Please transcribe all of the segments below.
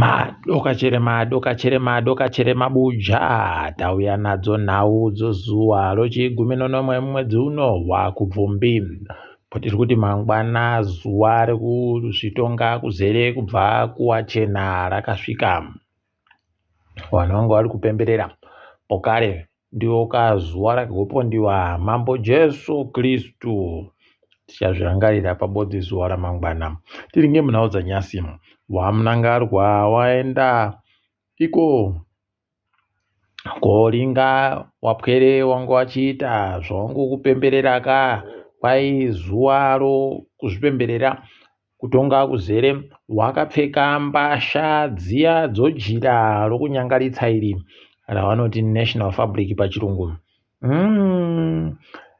Madoka chere madoka chere madoka chere mabuja tauya nadzo nhau dzozuva rochigumi nonomwe mumwedzi uno hwakubvumbi kwatiri kuti mangwana zuva rekuzvitonga kuzere kubva kuwachena rakasvika vanhu vanga vari kupemberera pokare ndiwo kazuva rehopo ndiwa mambo jesu kristu tichazvirangarira pabodzi zuva ramangwana tiri ngemunhau dzanyasi wamunangarwa waenda iko koringa wapwere wangu wachiita zvangu kupemberera ka kwai zuva ro kuzvipemberera Kutonga kuzere wakapfeka mbasha dziya dzojira rokunyangaritsa iri ravanoti national fabric pachirungu mm.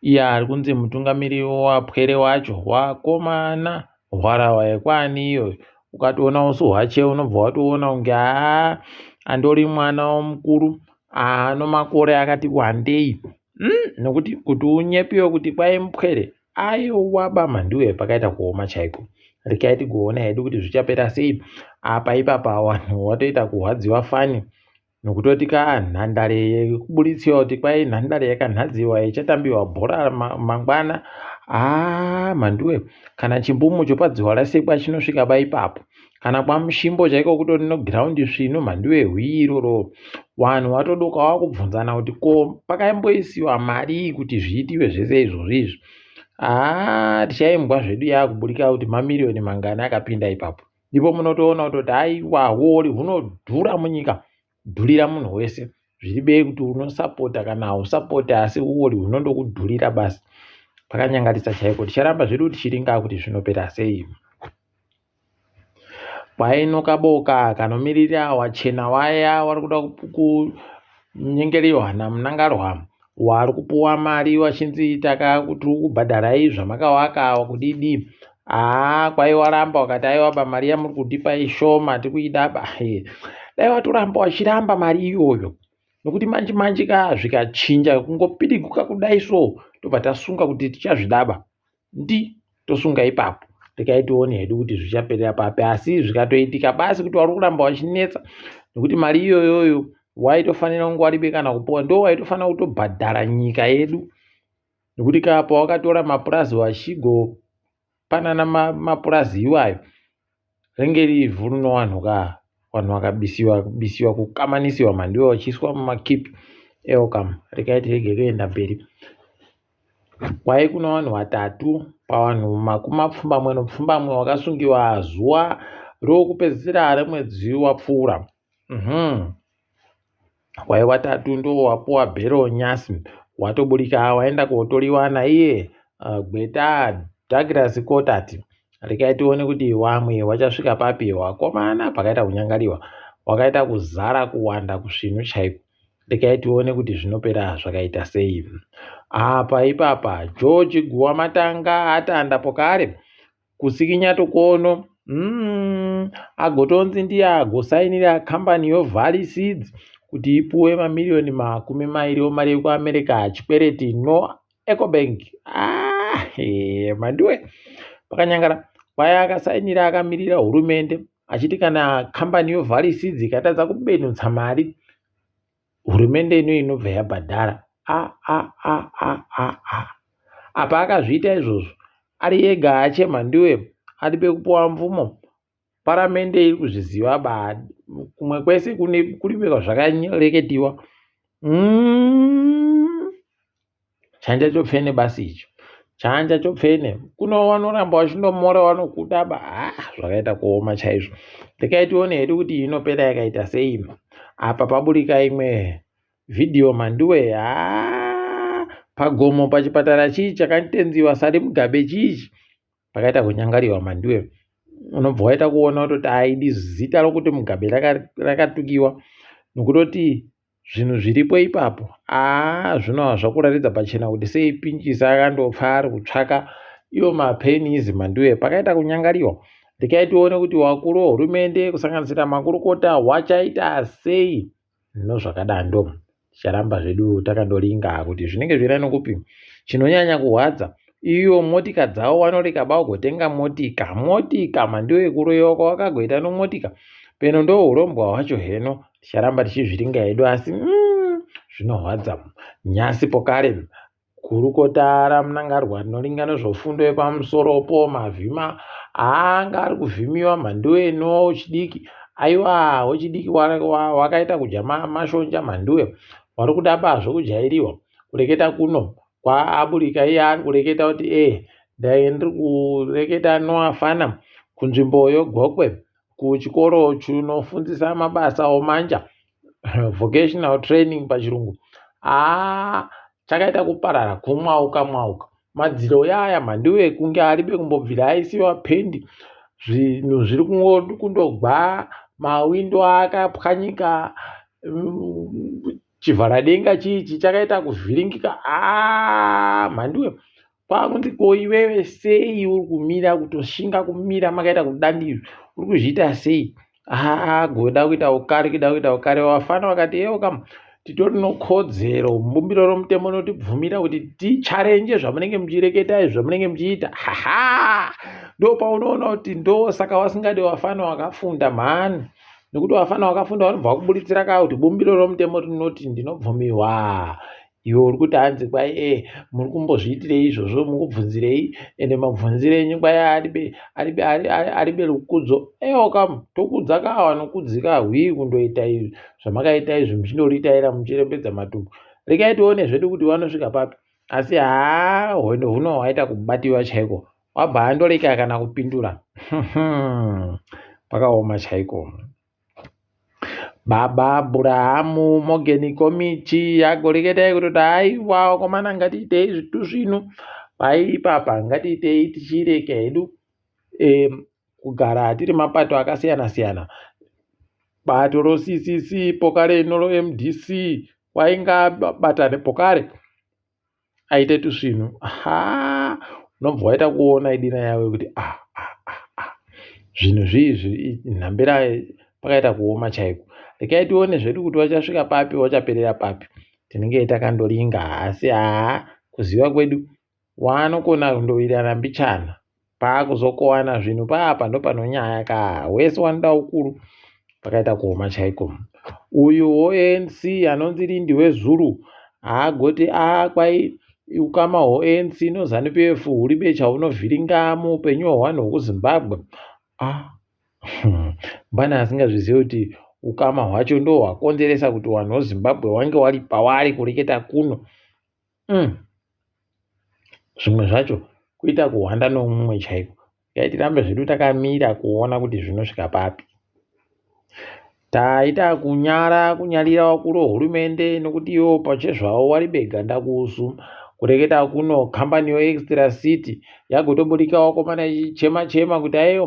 iya ari kunzi mutungamiriri wapwere wacho wakomana hwarawa yekwani iyoyo ukatoona usu hwache unobva watoona kunge aa andori mwana womukuru ano makore akati wandei mm, nokuti kuti unyepiwe kuti kwai mupwere Ayowa bamha ndiwe pakaita kuoma chaiko. Rikai tigoona hedu kuti zvichapera sei. Apa ipapa wanhu watoita kuhwadziwa fani nokutoti ka nhandare yekuburitsia kuti kwai nhandare yakanhadziwa ichatambiwa bhora mangwana. Ah manduwe kana chimbumu chopadziwa rasekwa chinosvika ba ipapo. kana kwamushimbo chaiko kutori neground svinu mhandiwe hwii iroro vanhu vatodoka vakubvunzana kuti ko pakaimboisiwa marii kuti zviitiwe zvese izvozvi izvi haa tichaimbwa zvedu yaakuburika kuti mamiriyoni mangani akapinda ipapo ndipo munotoona kutoti aiwa huori hunodhura munyika kudhurira munhu wese zviribei kuti unosapota kana hausapoti asi uori hunondokudhurira basi pakanyangarisa chaiko ticharamba zvedu tichiringaa kuti zvinopera sei kwaino kaboka kanomiririra wachena waya wari kuda kunyengeriwa namunangarwa waari kupuwa mari wachinzi taka tiri kubhadharai zvamakawaka kudidi haa kwai waramba wakati aiwaba mari yamuri kundipa ishoma tikuidaba he dai watoramba wachiramba mari iyoyo nokuti manje manje ka zvikachinja kungopidiguka kudai so tobva tasunga kuti tichazvidaba ndi tosunga ipapo tikaitione hedu kuti zvichaperera papi asi zvikatoitika basi kuti wari kuramba wachinetsa nekuti mari iyoyoyo waitofanira kunge waribe kana kupuwa ndo waitofanira kutobhadhara nyika yedu nekuti kapa wakatora mapurazi vachigopanana mapurazi iwayo ringe riri ivhu rinowanhuka vanhu vakabisiwa bisiwa kukamanisiwa mandiwa vachiiswa mumakip elcom rikaiti rege kuenda mberi kwai kuna vanhu vatatu pavanhu makumi mapfumbamwe nopfumbamwe vakasungiwa zuva rokupedzisira remwedzi wapfuura Uhmm wave watatu ndowapuwa bhero nhasi watoburika waenda kotoriwa naiye gweta Douglas Cotat regai tione kuti wamwe wachasvika papi wakomana pakaita kunyangariwa wakaita kuzara kuwanda kusvinu chaiko regai tione kuti zvinopera zvakaita sei apa ipapa George Guwamatanga atanda pokare kusikinya tukono mm, agotonzi ndiye agosainira kambani yovalley seeds kuti ipuwe mamiriyoni makumi mairi omari yekuamerica hachikwereti no ecobank ah, hey, mandiwe pakanyangara kwaya akasainira akamirira hurumende achiti kana kambani yovalley seeds ikatadza kubenutsa mari hurumende ino inobva yabhadhara a a a a a a apa akazviita izvozvo ari ega achema ndiwe ari pekupiwa mvumo paramende iri kuzviziva ba kumwe kwese kune kuri zvakareketiwa mm. chanja chopfene basi icho chanja chopfene kuno vanoramba vachindomora vanokuda ba ha zvakaita kuoma chaizvo ndikaitione hedu kuti inopera yakaita sei apa paburika imwe vhidhiyo manduwe ha pagomo pachipatara chii chakanditenziwa sari mugabe chiichi pakaita kunyangariwa manduwe unobva waita kuona kutoti aidi zita rokuti mugabe rakatukiwa raka nokutoti zvinhu zviripo ipapo aa zvinova zvakuraridza pachena kuti sei pinjisa akandopfa ari kutsvaka iwo mapenizi manduwe pakaita kunyangariwa ndikai tione kuti wakuru wehurumende kusanganisira makurukota wachaita sei no zvakadando ticharamba zvedu takandoringa kuti zvinenge zvira nokupi chinonyanya kurwadza iyo motika dzavo vanoreka bagotenga motika motika mandiwe kuroyewa kwavakagoita nomotika peno ndourombwa hwacho heno ticharamba tichizviringa hedu asi mm, zvinorwadza mm, nyasi pokare mm, kurukotara munangarwa rinoringana zvofundo yepamusoropo mavhima anga ari kuvhimiwa mhandu eno chidiki aiwa wechidiki wakaita kudya mashonja mhanduwe wari kuda pazvo kujairiwa kureketa kuno kwaaburika iye ari kureketa kuti ee eh, ndai ndiri kureketa noafana kunzvimbo yogokwe kuchikoro chinofundisa mabasa omanja vocational training pachirungu aa chakaita kuparara kumwauka mwauka madziro yaya mandiwo ekunge aribe kumbobvira aisiwa pendi zvinhu zviri kundogwa mawindo akapwanyika mm, chivharadenga chii chichakaita kuvhiringika aa ah, mhandiwe kwakunzi ko iwewe sei uri kumira kutoshinga kumira makaita kudani izvi uri kuzviita sei haa goda kuita ukari kuda kuita ukari vafana vakati ewo kam titori nokodzero mbumbiro romutemo notibvumira kuti ticharenje zvamunenge muchireketa izvi zvamunenge muchiita haha ndo paunoona kuti ndo saka wasingadi vafana wakafunda mhani nekuti vafana vakafunda vanobva vakuburitsira kaa kuti bumbiro romutemo rinoti ndinobvumiwa Iwe uri kuti hanzi kwai e eh, muri kumbozviitirei izvozvo mukubvunzirei ende mabvunzire enyu kwai aribe aribe aribe rukudzo ewo kam tokudza ka wanokudzika hwii kundoita izvi zvamakaita izvi muchindoritaira muchirembedza matumbu regai tione zvedu kuti wanosvika papi asi haa hwendo huno hwaita kubatiwa chaiko wabva andoreka kana kupindura pakaoma chaiko Baba Abhurahamu Mogeni Komichi yagoreketa yekutoti haiwa wakomana ngatiitei zvitu zvino paiipapa ngatiitei tichirega hedu um kugara tiri mapato akasiyana siyana bato roCCC pokare rino roMDC wainga batani pokare. aite tusvinhu ha unobva waita kuona idina yawe kuti a ah, a ah, a ah, a zvinhu zviizvi nhambira pakaita kuoma chaiko rekai tione zvedu kuti wachasvika papi wachaperera papi tinenge takandoringa asi haa kuziva kwedu waanokona kundowirirana mbichana paakuzokowana zvinhu paapa ndopanonyaya kaa wese wanoda ukuru pakaita kuoma chaiko uyu hoanc anonzi lindi wezuru haagoti a kwai ukama hoanc nozanu pf huri becha hunovhiringa muupenyu hwewanhu hwekuzimbabwe a mbani asingazvizive kuti ukama hwacho ndohwakonzeresa kuti wanhu wezimbabwe wange wari pawaari kureketa kuno Umm zvimwe zvacho kuita kuhwanda nomumwe chaiko dai tirambe zvedu takamira kuona kuti zvinosvika papi taita kunyara kunyarira wakuru hurumende nokuti iwo pachezvawo wari bega ndakusu kureketa kuno kambani yo extra city yagotoburika wakomana ichichema chema kuti aiyo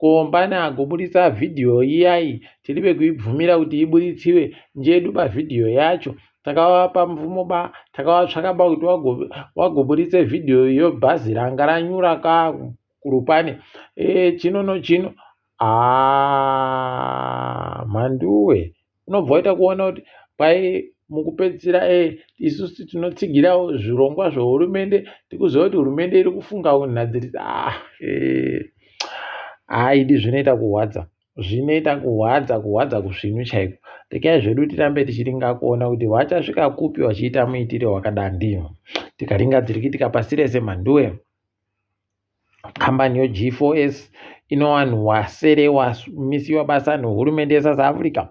kombani agoburitsa vhidhiyo iyayi tiri vekuibvumira kuti iburitsiwe njedu pavhidhiyo yacho takavapa mvumo ba takavatsvaka ba kuti wagoburitse vhidhiyo iyo bhazi ranga ranyura ka kurupani e, chino nochino haa mhanduwe unobva waita kuona kuti kwai mukupedzisira e, isusu tinotsigirawo zvirongwa zvehurumende tikuziva kuti hurumende iri kufunga unhadzirisa ah, e, haidi zvinoita kurwadza zvinoita kuhwadza kuhwadza kusvinu chaiko rekai zvedu tirambe tichiringa kuona kuti vachasvika kupi vachiita muitire wakadandi tikaringa dzirikitika pasi rese mhanduwe kambani yog4s ino vanhu wasere wamisiwa basa nehurumende yesouth africa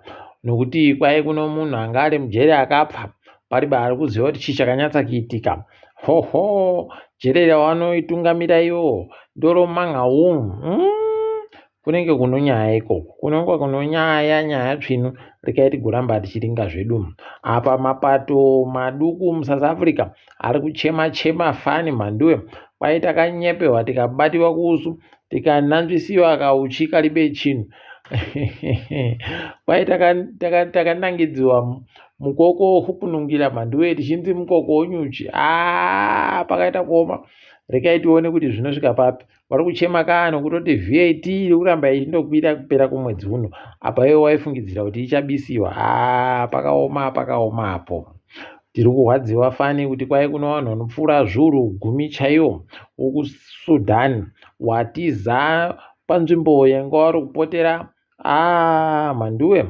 nokuti kwai kuno munhu anga ari mujeri akapfa pari baari kuziva kuti chii chakanyatsa kuitika hoho jeri ravanoitungamira ivo ndoromangaumu mm. kunenge kunonyaya ikoko kunonga kunonyaya nyaya tsvinu rekai tigoramba tichiringa zvedu apa mapato maduku musouth africa ari kuchema chema fani mhanduwe kwai takanyepewa tikabatiwa kuusu tikananzvisiwa kauchi karibe chinhu kwai takanangidziwa taka, taka mukoko wokupunungira mhanduwe tichinzi mukoko wonyuchi aa ah, pakaita kuoma rekai tione kuti zvinosvika papi vari kuchema kani kutoti vat iri kuramba ichindokwira kupera kwemwedzi uno apa iwe waifungidzira kuti ichabisiwa haa pakaoma pakaoma apo tiri kurwadziwa fani kuti kwai kuno vanhu vanopfuura zvuru gumi chaiwo wokusudan watiza panzvimbo yanga wari kupotera aa ah, mhanduwe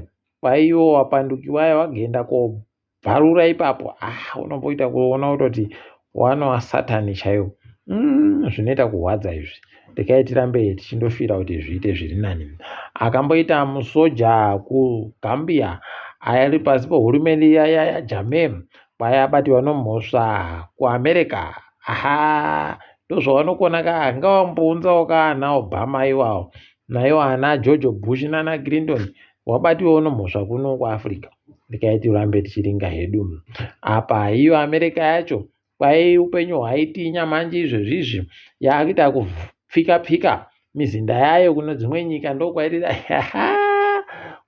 kwaiwo wapandukiwaya wagenda kobva bvarura ipapo ah unomboita kuona kutoti wana wasatani chaiwo mm, zvinoita kurwadza izvi regai tirambe tichindofira kuti zviite zviri nani akamboita musoja kugambia aya ari pasi pehurumende yaya yajamem kwaya abati vanomhosva kuamerica aha ndozvavanokona ka ngavambounzawo kaana obama iwawo naiwo ana george bush nana clinton wabatiwa uno mhosva kuno kuAfrica rekai tirambe tichiringa hedu apa iyo America yacho kwai upenyu hwaitinya manje izvezvizvi yaakuita kupfika pfika mizinda yayo kuno dzimwe nyika ndokwairira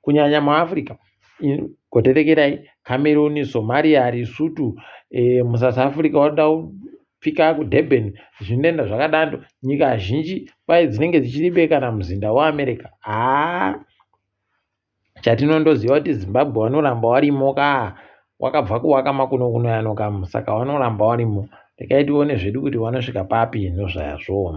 kunyanya muAfrica goterekerai Cameroon Somalia Lesotho eh, muSouth Africa wada Pika kuDurban, zvinenda zvakadando, nyika zhinji kwaye dzinenge dzichiribe kana muzinda weAmerica. Haa chatinondoziva kuti Zimbabwe wanoramba warimo ka wakabva kuwaka makuno kuno yano kam saka wanoramba warimo rekai tione zvedu kuti wanosvika papi nozvaya zvoo.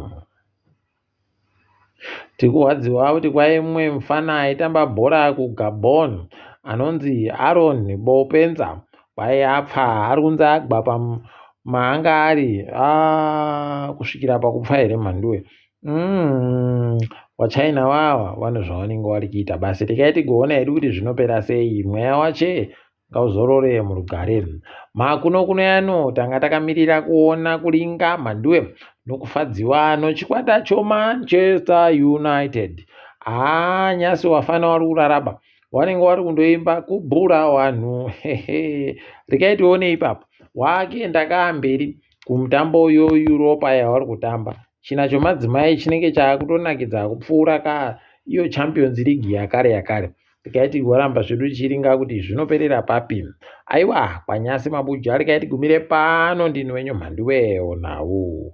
Tikurwadziwa kuti kwai mumwe mufana aitamba bhora kuGabon anonzi Aaron Bopenza kwai apfa ari kunzi agwa pamaanga ari ah, kusvikira pakupfa here mhanduwe mm, wachina wawa vane zvavanenge vari kuita basi rekai tigoona hedu kuti zvinopera sei mweya wache ngauzorore murugare makuno kuno yano tanga takamirira kuona kulinga mhanduwe nokufadziwa nochikwata chomanchester united haa nyasi wafana wari kuraraba wanenge wari kundoimba kubhura wanhu regai tione ipapo wake ndakaamberi kumutambo yoeuropa yawari kutamba china chomadzimai chinenge chaakutonakidza kupfuura ka iyo champions league yakare yakare tikaiti waramba zvedu chiringa kuti zvinoperera papi aiwa kwanyasi mabuja arikaiti gumire pano ndini wenyu mhandiwewo nhau